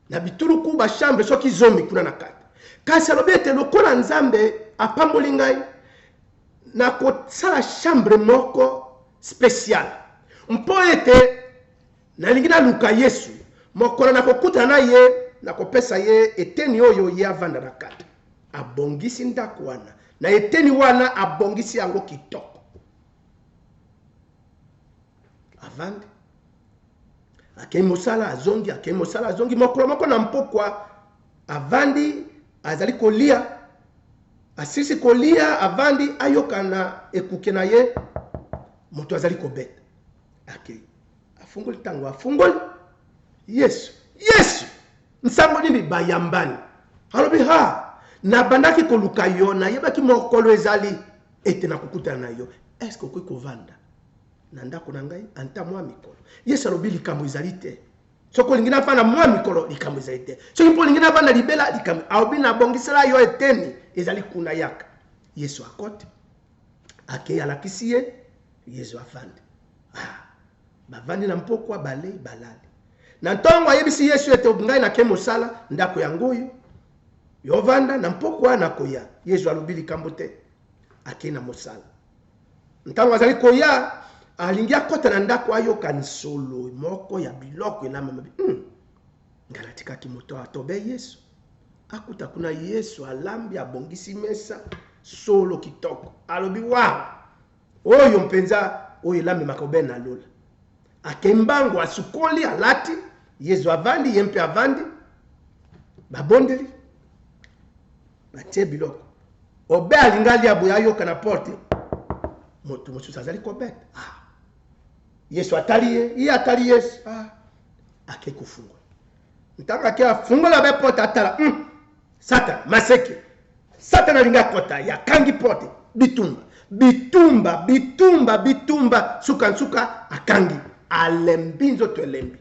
na bituluku bashambre soki zomi kuna na kati kasi alobi ete lokola nzambe apamboli ngai nakosala chambre moko speciale mpo ete Nalingi naluka Yesu. Mokolo nakokutana na Ye, nakopesa Ye eteni oyo Ye avanda na kati. Abongisi ndako wana, na eteni wana, abongisi yango kitoko. Avandi. Akei mosala, azongi, akei mosala, azongi. Mokolo moko na mpokwa, avandi, azali kolia. Asilisi kolia, avandi, ayoka na ekuke na ye, moto azali kobeta. ake afungoli ntango afungoli yesu yesu nsango nini bayambani alobi ha nabandaki koluka yo nayebaki mokolo ezali ete nakokutana na yo eske okoki kovanda na ndako na ngai anta mwa mikolo yesu alobi likambo ezali te soki olingi navanda mwa mikolo likambo ezali te soki mpo olingi navanda libela likambo alobi nabongisela yo eteni ezali kuna yaka yesu akoti akei alakisi ye Yezu avandi. Ah! Bavandi na mpokwa, balei, balali. Na ntongo, ayebisi Yesu ete, Ngai nake mosala, ndako yango oyo. Yo vanda, na mpokwa nakoya. Yezu alobi likambo te. Akei na mosala. Ntango azali koya, alingi akota na ndako, ayoka nsolo moko ya biloko elamami. Hmm. Ngai natikaki moto atobe Yesu. Akuta kuna Yesu alambi, abongisi mesa, solo kitoko. Alobi, Waw! Oyo mpenza oyo elamemaka aubaine na lola. Akei mbangu, asukoli, alati, Yezu avandi, ye mpe avandi, babondeli, batie biloko. Aubaine alinga alia boye ayoka na porte moto mosusu azali kobeta. Ah! Yesu atali ye, ye atali Yesu. Ah! Akei kofungwa. ntanga ke afungola be porte atala mm. satana maseke satana alingi akota ye akangi porte bitumba bitumba bitumba bitumba nsuka nsuka akangi alembi nzoto elembi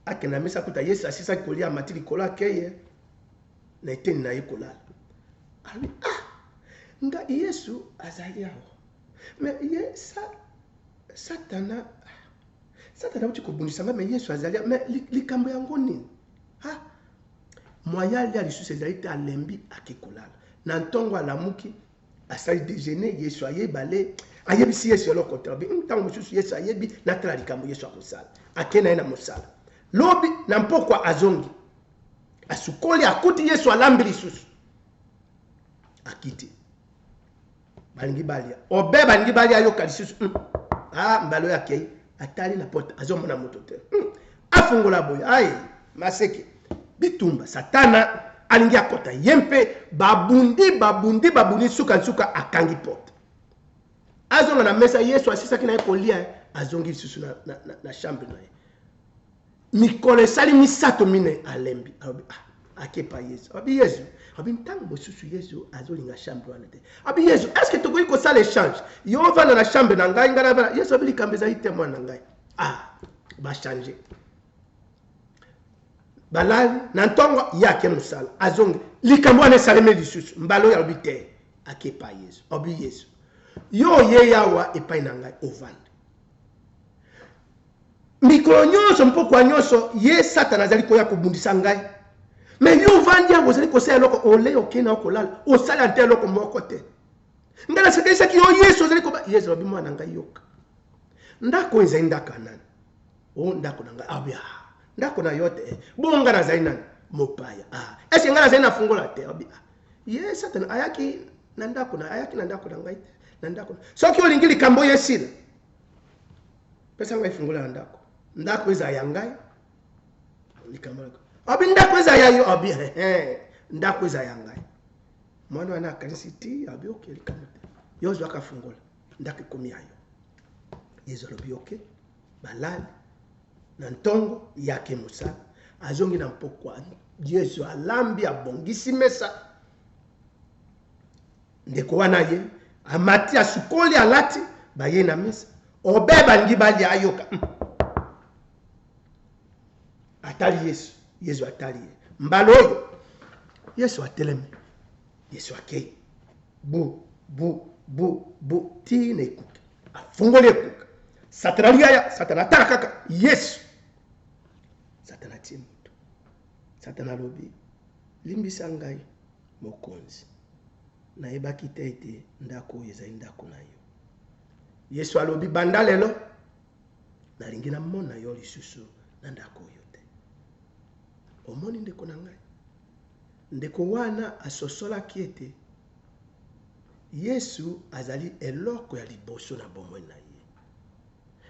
akenda mesa kuta yesu asisaki kolia amati likolo akeye na eteni na ye kolala alobi ah nga yesu azali awa me ye sa, satana Satana auti kobundisa ngai, mais Yesu azali. Mais likambo yango nini? Ha! Mwaya alia lisusu ezali te, alembi ake kolala. Na ntongo alamuki, asali dejeuner, Yesu aye bale, ayebisi Yesu eloko te. Alobi, hmm, ntango mosusu Yesu ayebi, natala likambo Yesu akosala. Ake na ye na mosala. Lobi, na mpokwa azongi. Asukoli, akuti Yesu alambi lisusu. Akiti. balingi balia obe balingi balia ayoka lisusu mm. ah mbalo ya kei atali na porte azomona moto te mm. afungola boye aye maseke bitumba satana alingi akota ye mpe babundi babundi babundi suka nsuka akangi porte azonga na mesa yesu asisaki na ye kolia azongi lisusu na, na, na, na chambre na ye mikolo esali misato minei alembi alobi ah, akepa yesu alobi yesu alobi ntango mosusu yesu azolinga chambre wana te alobi yesu est ce que tokoki kosala échange yo ovanda na chambre na ngai ngai navanda yesu alobi likambo ezali te mwana na ngai ah bachange balali na ntongo ye ake mosala azongi likambo wana esalemi lisusu mbala oyo alobi te akepa yesu alobi yesu yo oye yawa epai na ngai ovanda Mikolo nyonso, mpokwa nyonso, ye, Satana, azali koya kobundisa ngai. Me yo ovandi yango, ozali kosala eloko, ole okei na okolala, osala nte eloko moko te. Ngai nasakanisaki yo, Yesu ozali koba. Yesu alobi, mwana na ngai, yoka. Ndako oyo ezali ndako ya nani? O oh, ndako na ngai. Abia, ah, ah, ndako na yo te. Eh. Bongo ngai nazali nani? Mopaya. Ah, eske ngai nazali na fungola te? Abia, ah, ye Satana ayaki na ndako na ayaki na ndako na ngai te na ndako soki olingi likambo oyo esila pesa ngai fungola ya ndako ndako ezala ya ngai likambo abi ndako ezala ya yo abi ndako ezala ya ngai mwana wana akanisi ti abi oke likambo te yo ozwaka fungola ndako ekomi ya yo yezu alobi oke balali na ntongo yake mosala azongi na mpokwa yezu alambi abongisi mesa ndeko wana aye amati asukoli alati baye na mesa obe balingi balia ayoka hmm. atali yesu yesu atali ye mbala oyo yesu atelemi yesu akei bu bu bu bu tii na ekuke afungoli ekuke satana liaya satana atala kaka yesu satana tie moto Satana alobi, Limbisa ngai, Mokonzi. Nayebaki te ete ndako oyo ezali ndako na yo. Yesu alobi, Banda lelo, nalingi namona yo lisusu na ndako oyo te. Omoni ndeko na ngai? Ndeko wana asosolaki ete Yesu azali eloko ya liboso na bomoi na ye.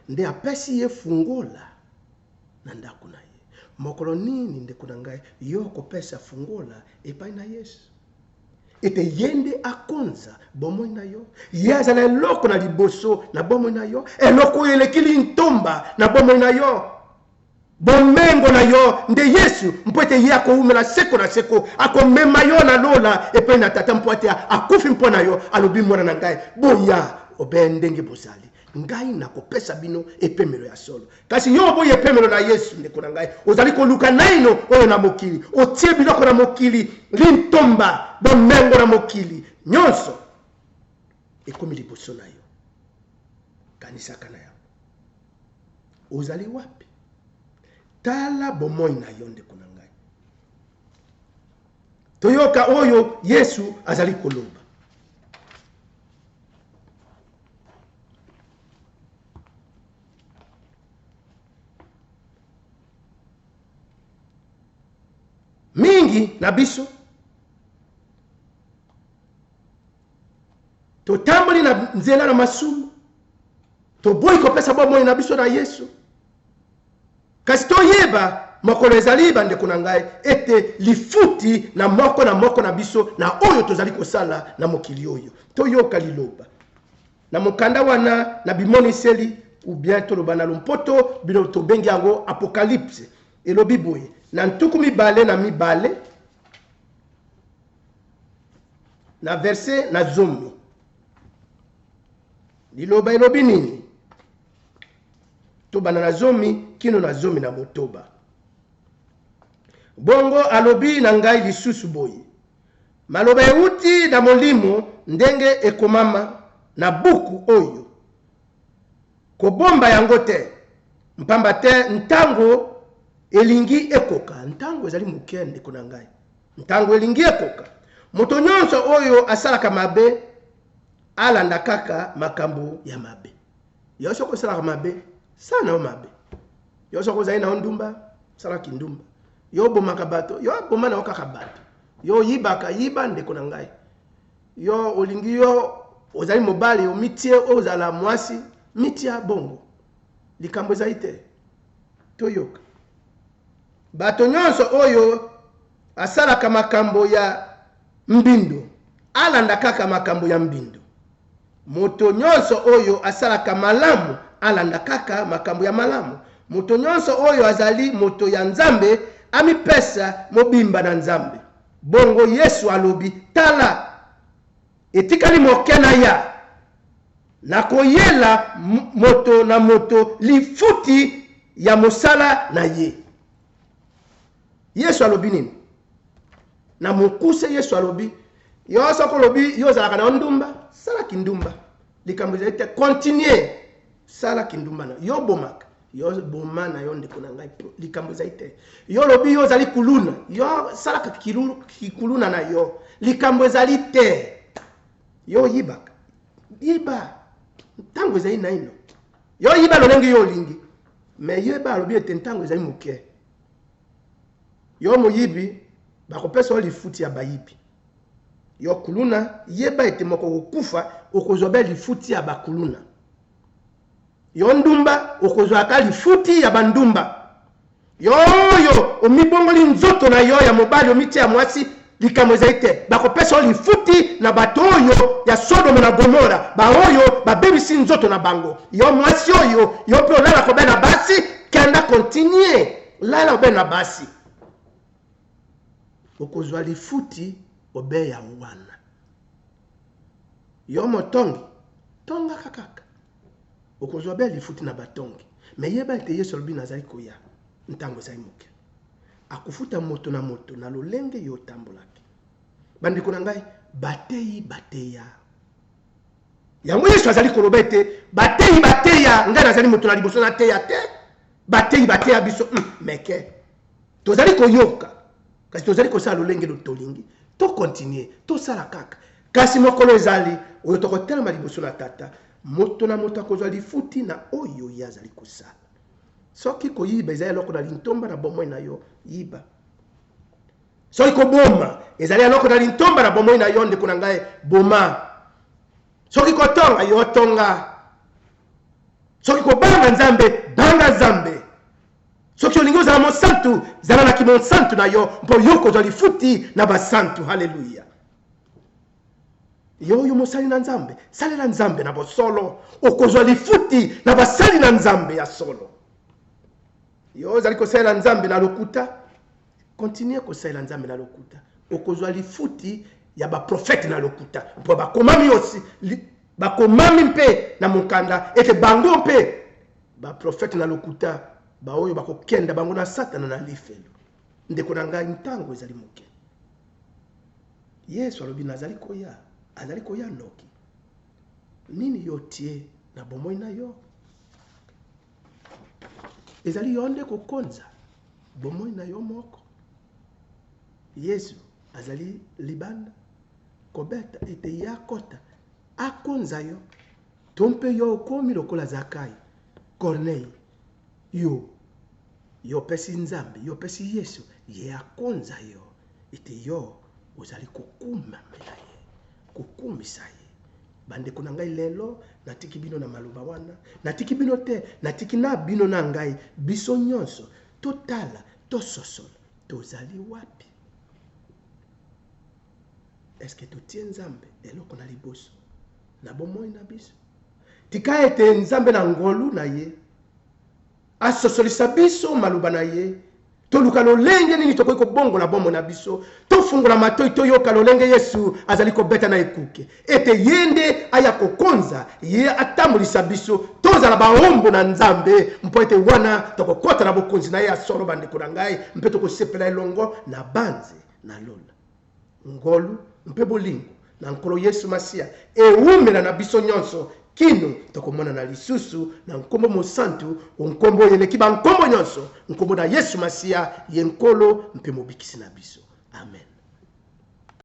nde apesi ye fungola na ndako na ye. Mokolo nini, ndeko na ngai, yo okopesa fungola epai na Yesu ete ye nde akonza bomoi na yo, ye azala eloko na liboso na bomoi na yo, eloko oyo eleki lintomba na bomoi na yo? Bomengo na yo nde Yesu, mpo ete ye akoumela seko na seko. Akomema yo na lola epai na Tata, mpo ete akufi mpo na yo. Alobi, Mwana na ngai, boya obele ndenge bozali. Ngai nakopesa bino epemelo ya solo. Kasi yo oboyi epemelo na Yesu, ndeko na ngai. Ozali koluka naino oyo na mokili. Otie biloko na mokili lintomba, bomengo na mokili. Nyonso ekomi liboso na yo. Kanisaka na yango. ozali wapi tala bomoi na yo ndeko na ngai toyoka oyo yesu azali koloba mingi na biso totamboli na nzela na masumu toboyi kopesa bomoi na biso na yesu kasi toyeba mokolo ezali bandeko na ngai ete lifuti na moko na moko na biso na oyo tozali kosala na mokili oyo toyoka liloba na mokanda wana na bimoniseli ou bien toloba na lompoto bino tobengi yango apocalypse elobi boye na ntuku mibale na mibale na verse na zomi liloba elobi nini tobanda na zomi kino na zomi na motoba bongo alobi na ngai lisusu boye maloba euti na molimo ndenge ekomama na buku oyo kobomba yango te mpamba te ntango elingi ekoka ntango ezali moke ndeko na ngai Ntango elingi ekoka, moto nyonso oyo asalaka mabe alanda kaka makambo ya mabe. Yo soko osalaka mabe, sala na yo mabe. Yo soko ozali na yo ndumba, sala kindumba. Yo obomaka bato, yo aboma na yo kaka bato. Yo oyibaka, yiba ndeko na ngai. Yo olingi yo ozali mobali omitie ozala mwasi, mitia bongo. Likambo ezali te. Toyoka. Bato nyonso oyo asalaka makambo ya mbindo, alanda kaka makambo ya mbindo. Moto nyonso oyo asalaka malamu, alanda kaka makambo ya malamu. Moto nyonso oyo azali moto ya Nzambe, amipesa mobimba na Nzambe. Bongo Yesu alobi, Tala! Etikali moke naya. Nakoyela moto na moto lifuti ya mosala na ye. Yesu alobi nini? Na mokuse Yesu alobi, yo soko olobi yo ozalaka na yo ndumba, sala kindumba. Likambo ezali te, continue, sala kindumba na yo, yo obomaka. yo boma na yo ndeko na ngai likambo ezali te yo olobi yo ozali kuluna yo salaka kikuluna na yo likambo ezali te yo oyibaka yiba ntango ezali naino yo oyiba lolenge yo olingi me yo eba alobi ete ntango ezali moke yo moyibi bakopesa yo lifuti ya bayibi yo kuluna yeba ete moko okokufa okozwa be lifuti ya bakuluna Yo ndumba okozwa ata lifuti ya ba ndumba. Yo oyo omibongoli nzoto na yo ya mobali omitie ya mwasi likambo ezali te. Bakopesa yo lifuti na bato oyo ya Sodomo na Gomora baoyo babebisi nzoto na bango. Yo mwasi oyo yo pe olalaka obe na basi kenda continue lala obe na basi. Okozwa lifuti obe ya wana. Yo motongi, tongaka kaka. Okozwa bee lifuti na batongi. Mais yeba ete Yesu alobi nazali koya ntango ezali moke. Akofuta moto na moto na lolenge yo otambolaki. Bandeko na ngai, bateyi bateya. Yango Yesu azali koloba ete bateyi bateya, ngai nazali moto na liboso nateya te. bateyi bateya biso hmm, meke tozali koyoka kasi tozali kosala lolenge lo tolingi tokontinue tosala kaka kasi mokolo ezali oyo tokotelema liboso na tata moto na moto akozwa lifuti na oyo ye azali kosala soki koyiba ezali eloko na lintomba na bomoi na yo yiba soki koboma ezali eloko na lintomba na bomoi na yo ndeko na ngai boma soki kotonga yo tonga soki kobanga nzambe banga nzambe soki olingi ozala mosantu zala na kimonsantu na yo mpo yo kozwa lifuti na basantu haleluya yo oyo mosali na nzambe salela nzambe na bosolo okozwa lifuti na basali na nzambe ya solo yo ozali kosalela nzambe na lokuta Continuer kosalela Nzambe na lokuta. Okozwa lifuti ya ba prophète na lokuta. Mpo bakomami aussi bakomami mpe na mokanda ete bango mpe ba prophète na lokuta baoyo bakokenda bango na Satana na lifelo. Ndeko na ngai ntango ezali moke. Yesu alobi nazali koya, azali koya noki. Nini yo otie na bomoi na yo? ezali yo nde kokonza bomoi na yo moko yesu azali libanda kobeta ete ye akota akonza yo to mpe yo okomi lokola zakai kornei yo yo opesi nzambe yo opesi yesu ye akonza yo ete yo ozali kokumamela ye Kokumisa ye. Bandeko na ngai, lelo natiki bino na maloba wana. Natiki bino te, natiki na bino na ngai, biso nyonso, totala, tososola, tozali wapi? Eske totie Nzambe eloko na liboso na bomoi na biso? Tika ete Nzambe na ngolu na ye Asosolisa biso maloba na ye. Toluka lolenge nini tokoki kobongola bomoi na biso. Tofungola matoi, toyoka lolenge Yesu azali kobeta na ekuke ete ye nde aya kokonza, ye atambolisa biso. Tozala baombo na Nzambe, mpo ete wana tokokota na bokonzi na ye ya solo, bandeko na ngai, mpe tokosepela elongo nabanzi na lola. Ngolu mpe bolingo na Nkolo Yesu Masiya ewumela na biso nyonso kino tokomonana lisusu, na nkombo mosantu o nkombo oyo eleki bankombo nyonso, nkombo na Yesu Masiya, ye Nkolo mpe Mobikisi na biso. Amen.